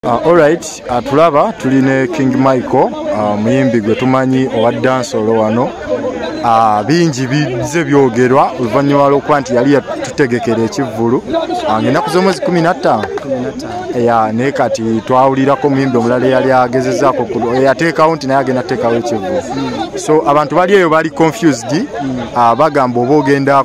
Uh, alright uh, tulaba tuli ne king michael uh, muyimbi gwe tumanyi owa dansolo wano uh, bingi bize byogerwa oluvanyuma lwokuba nti yali yatutegekera ekivvulu uh, ngaenaku zomwezi kumi nattaano ya naye kati twawulirako omuyimbi omulala eyali agezezaako eyateekawo nti naye agenda tuteekawo ekivvulu so abantu bali eyo bali confused mm. uh, bagamba oba ogenda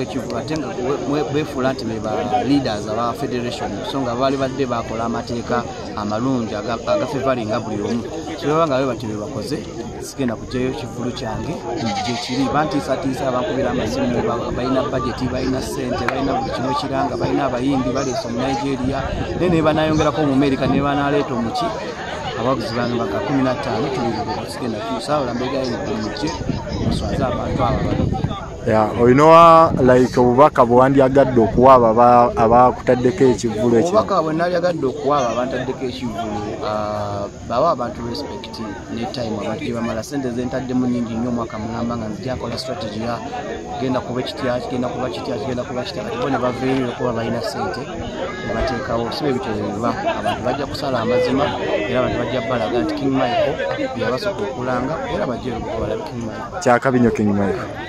ekivu ate nga befuula nti beba leaders aba federation so nga baali badde bakola amateeka amalungi agafevalinga buli omu kibaba nga be batyo bebakoze sigenda kujayo kivulu kyange gyekiri bantiisatiisa abankubira amasimu balina bajeti balina sente balina buli kimu ekiranga balina abayimbi baleesa omu nigeria naye naye banayongerako mu amerika naye banaleeta omuki ababuzi bano baka kumi na ttaano tubiri bwebasigenda tusaawula mbegayo mukye muswaze abantu abo bano olinowa like obubaka bwewandyagadde okuwa abo abakutaddeko ekivulu ekyobubaka bwenalyagadde okuwa abo abantaddeko ekivulu ah, bawa abantu respect ne time abantu gyebamala sente zentaddemu nyingi nnyo omwaka mulamba nga nzijakola strategy ya genda kuba ekitya kigenda kuba kitya kigenda kuba kitya kati bo ne baveeyo okuba balina sente nebateekawo siba ebitebeba abantu bajja kusala amazima era abantu bajja balaga nti king michael yabasooka okulanga era bajja erukubalaba king michael kyakabinyo king michael